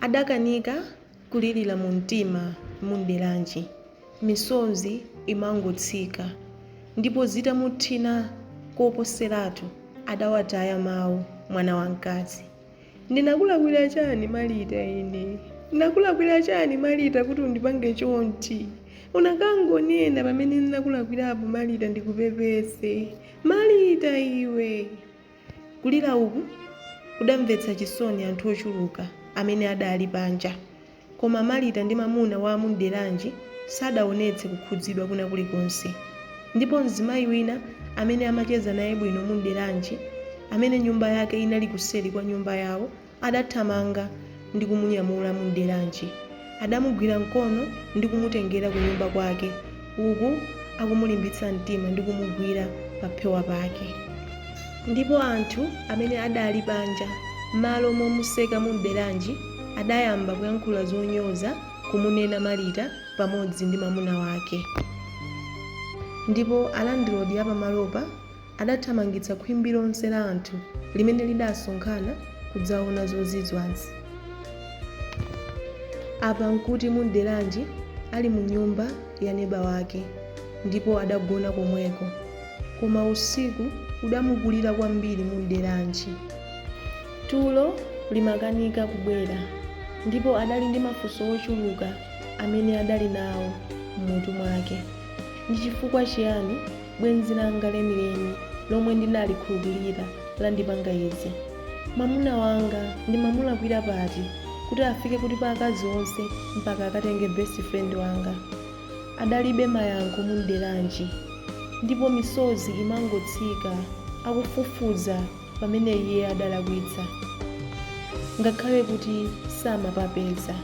Adakanika kulilira mumtima Mumderanji misozi imangotsika ndipo zitamuthina koposeratu adawataya mawu mwana wamkazi. Ndinakulakwira chani Malita ine? Ndinakulakwira chani Malita kuti undipange chonchi? Unakangonena pamene ndinakulakwirapo Malita ndikupepese. Malita iwe! Kulira uku kudamvetsa chisoni anthu ochuluka amene adali panja. Koma Marita ndi mamuna wa Mumderanji sadaonetse kukhudzidwa kwina kulikonse. Ndipo mzimayi wina amene amacheza naye bwino Mumderanji, amene nyumba yake inali kuseri kwa nyumba yawo, Adathamanga ndi kumunyamula Mumderanji. Adamugwira mkono ndi kumutengera kunyumba kwake uku akumulimbitsa mtima ndi kumugwira paphewa pake. Ndipo anthu amene adali panja mmalo momuseka Mumderanji adayamba kuyankhula zonyoza kumunena Marita pamodzi ndi mamuna wake. Ndipo a landlord apamalopa Adathamangitsa khwimbi lonse la anthu limene lidasonkhana kudzaona zozizwazi. Apa nkuti Mumderanji ali mu nyumba ya neba wake ndipo adagona komweko. Koma usiku udamukulira kwambiri Mumderanji. Tulo limakanika kubwera ndipo adali ndi mafunso ochuluka amene adali nawo m'mutu mwake. Ndi chifukwa chiyani. Bwenzi langa lenileni lomwe ndinalikhulupirira landipanga izi. Mamuna wanga ndimamulakwira pati kuti afike kuti pa akazi onse mpaka akatenge best friend wanga? Adalibe mayankho Mumderanji ndipo misozi imangotsika akufufuza pamene iye adalakwitsa ngakhale kuti samapapeza.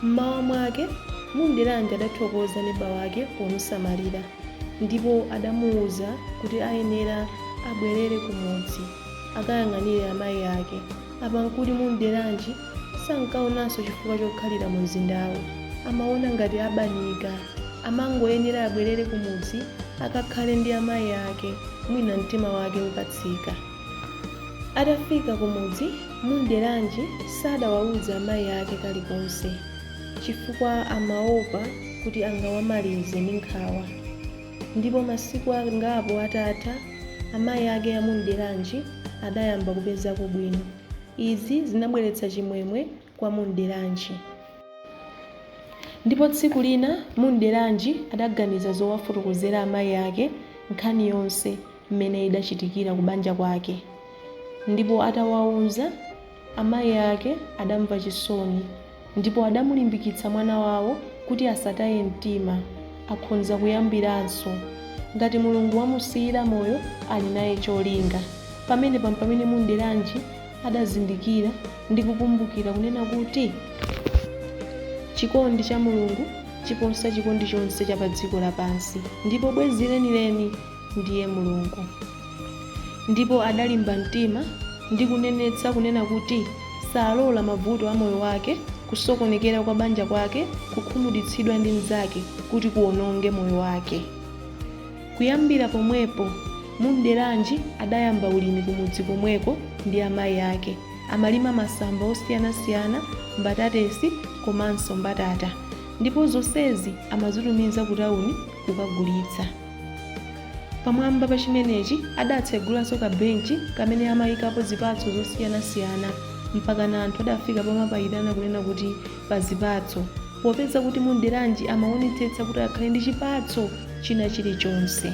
M'mawa mwake Mumderanji adathokoza neba wake pomusamalira. Ndipo adamuuza kuti ayenera abwerere kumudzi, akayang'anire amayi ake. Apa n'kuti Mumderanji sankaonanso chifukwa chokhalira mumzindawo. Amaona ngati abanika. Amangoyenera abwerere kumudzi akakhale ndi amayi ake, mwina mtima wake ukatsika. Atafika kumudzi, Mumderanji sadawauza amayi ake kalikonse. chifukwa amaopa kuti angawamalize ndi nkhawa. Ndipo masiku angapo atatha, amayi ake a Mumderanji adayamba kupezako bwino. Izi zinabweretsa chimwemwe kwa Mumderanji. Ndipo tsiku lina Mumderanji adaganiza zowafotokozera amayi ake nkhani yonse mmene idachitikira ku banja kwake. Ndipo atawauza. Amayi ake adamva chisoni ndipo adamulimbikitsa mwana wawo kuti asataye mtima, akhonza kuyambiranso. Ngati Mulungu wamusiyira moyo ali naye cholinga. Pamenepa mpamene Mumderanji adazindikira ndi kukumbukira kunena kuti Chikondi cha Mulungu chiposa chikondi chonse cha padziko lapansi ndipo bwenzi lenileni. ndiye Mulungu. Ndipo adalimba mtima ndi kunenetsa kunena kuti salola mavuto a moyo wake, kusokonekera kwa banja kwake, kukhumudwitsidwa ndi mnzake kuti kuononge moyo wake. Kuyambira pomwepo, Mumderanji adayamba ulimi kumudzi komweko ndi amayi ake. Amalima masamba osiyanasiyana, mbatatesi komanso mbatata ndipo zonsezi amazitumiza kutauni kukagulitsa. Pamwamba pa chimenechi adatsegulanso kabenchi kamene amaikapo zipatso zosiyanasiyana, mpakana anthu adafika pomapaitana kunena kuti pa zipatso, popeza kuti Mumderanji amaonetsetsa kuti akhale ndi chipatso china chilichonse,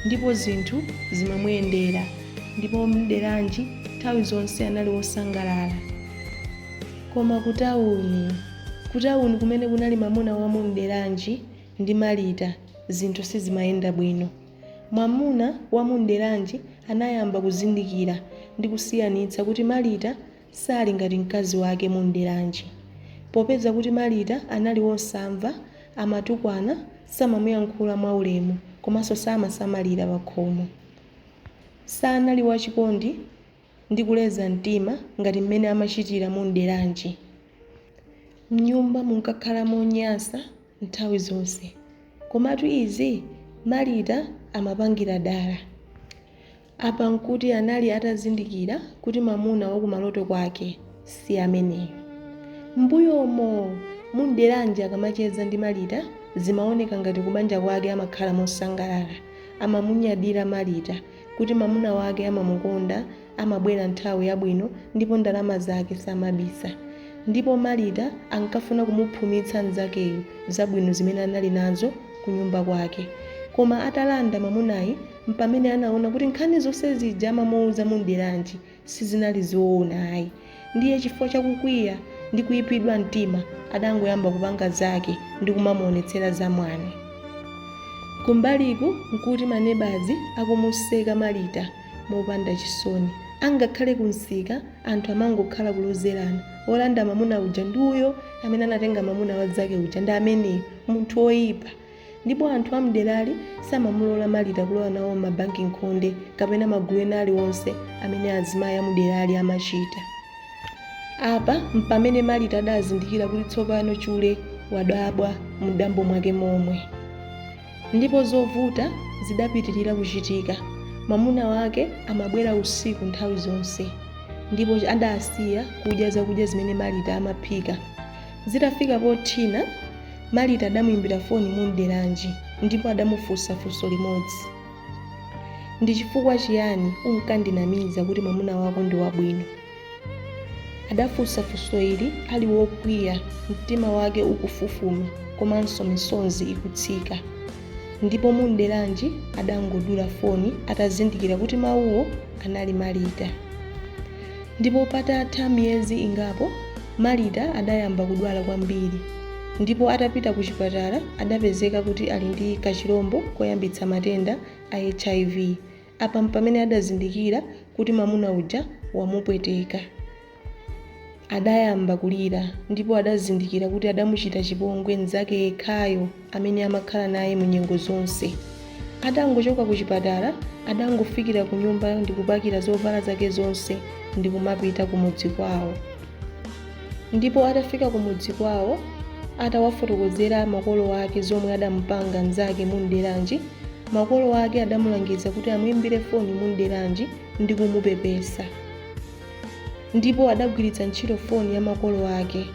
ndipo zinthu zimamuyendera, ndipo Mumderanji nthawi zonse anali wosangalala. Koma kutauni, kutauni kumene kunali mamuna wa Mumderanji, ndi Marita zinthu sizimayenda bwino. Mwamuna wa Mumderanji anayamba kuzindikira ndi kusiyanitsa kuti Marita sali ngati mkazi wake Mumderanji. Popeza kuti Marita anali wosamva, amatukwana, samamuyankhula mwa ulemu komanso samasamalira pakhomo. Sanali wachikondi. ndi kuleza mtima ngati mmene amachitira Mumderanji. M'nyumba munkakhala monyansa nthawi zonse. Komatu izi Marita amapangira dala. Apa n'kuti anali atazindikira kuti mamuna wa kumaloto kwake si ameneyu. M'mbuyomo, Mumderanji akamacheza ndi Marita zimaoneka ngati kubanja kwake amakhala mosangalala. Amamunyadira Marita kuti mwamuna wake amamukonda, amabwera nthawi yabwino ndipo ndalama zake samabisa. Ndipo Marita ankafuna kumuphumitsa mnzakeyu zabwino zimene anali nazo kunyumba kwake. Koma atalanda mwamunayi, mpamene anaona kuti nkhani zonse zija amamuuza Mumderanji. sizinali zoona ayi. Ndiye chifukwa cha kukwiya ndi kuipidwa mtima adangoyamba kupanga zake ndi kumamuonetsera zamwano. Kumbaliku nkuti manebazi akumuseka Marita mopanda chisoni. Angakhale kumsika anthu amangokhala kulozerana, wolanda mamuna uja ndi uyo, amene anatenga mamuna wa mnzake uja ndi ameneyu, munthu woipa. Ndipo anthu a m'derali samamulola Marita kulowa nawo mabanki m'khonde kapena magulu ena aliwonse amene azimayi a muderali amachita. Apa mpamene Marita adazindikira kuti tsopano chule wadabwa mudambo mwake momwe. Ndipo zovuta zidapitirira kuchitika. Mwamuna wake amabwera usiku nthawi zonse ndipo adasiya kudya zakudya zimene Marita amaphika. Zitafika pothina, Marita adamuimbira foni Mumderanji ndipo adamufunsa funso limodzi. Ndi chifukwa chiyani unkandinamiza kuti mwamuna wako ndi wabwino? Adafunsa funso ili ali wokwiya, mtima wake ukufufuma komanso misonzi ikutsika. Ndipo Mumderanji adangodula foni atazindikira kuti mawuwo anali Marita. Ndipo patatha miyezi ingapo, Marita adayamba kudwala kwambiri ndipo atapita kuchipatala adapezeka kuti ali ndi kachilombo koyambitsa matenda a HIV. Apa mpamene adazindikira kuti mwamuna uja wamupweteka. Adayamba kulira ndipo adazindikira kuti adamuchita chipongwe mnzake yekhayo. amene amakhala naye mu nyengo zonse. Atangochoka ku chipatala, adangofikira ku nyumba ndi kupakira zovala zake zonse ndi kumapita ku mudzi kwawo. Ndipo atafika ku mudzi kwawo, atawafotokozera makolo ake zomwe adamupanga mnzake Mumderanji, makolo ake adamulangiza kuti amuimbire foni Mumderanji ndi kumupepesa. ndipo adagwiritsa ntchito foni ya makolo ake.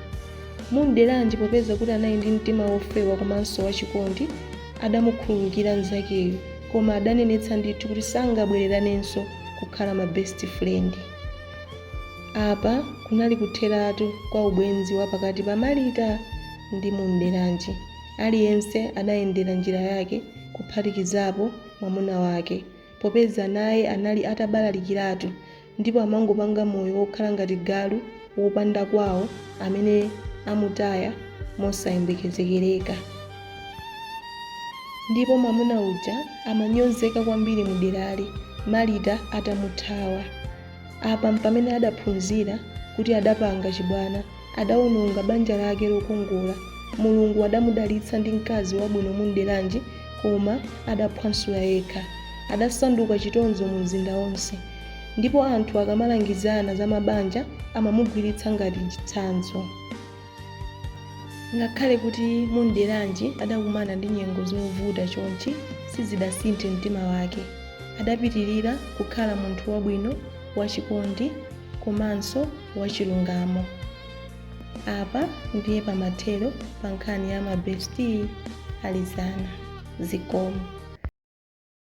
Mumderanji popeza kuti anali ndi mtima wofewa komanso wachikondi, adamukhululukira mnzakeyu koma adanenetsa ndithu kuti sangabwereranenso kukhala ma best friend. Apa kunali kutheratu kwa ubwenzi wa pakati pa Marita ndi Mumderanji. Aliyense adayendera njira yake kuphatikizapo mwamuna wake popeza naye anali atabalalikiratu ndipo amangopanga moyo wokhala ngati galu wopanda kwawo amene amutaya mosayembekezekereka. Ndipo mwamuna uja amanyozeka kwambiri mu derali Marita atamuthawa. Apa mpamene adaphunzira kuti adapanga chibwana, adaononga banja lake lokongola. Mulungu adamudalitsa ndi mkazi wabwino Mumderanji koma adaphwansula yekha. Adasanduka chitonzo mu mzinda wonse. ndipo anthu akamalangizana za mabanja amamugwiritsa ngati chitsanzo ngakhale kuti munderanji adakumana ndi nyengo zovuta chonchi sizidasinthe mtima wake adapitirira kukhala munthu wabwino wachikondi komanso wachilungamo apa ndiye pamathero pa nkhani ya mabesti alizana zikomo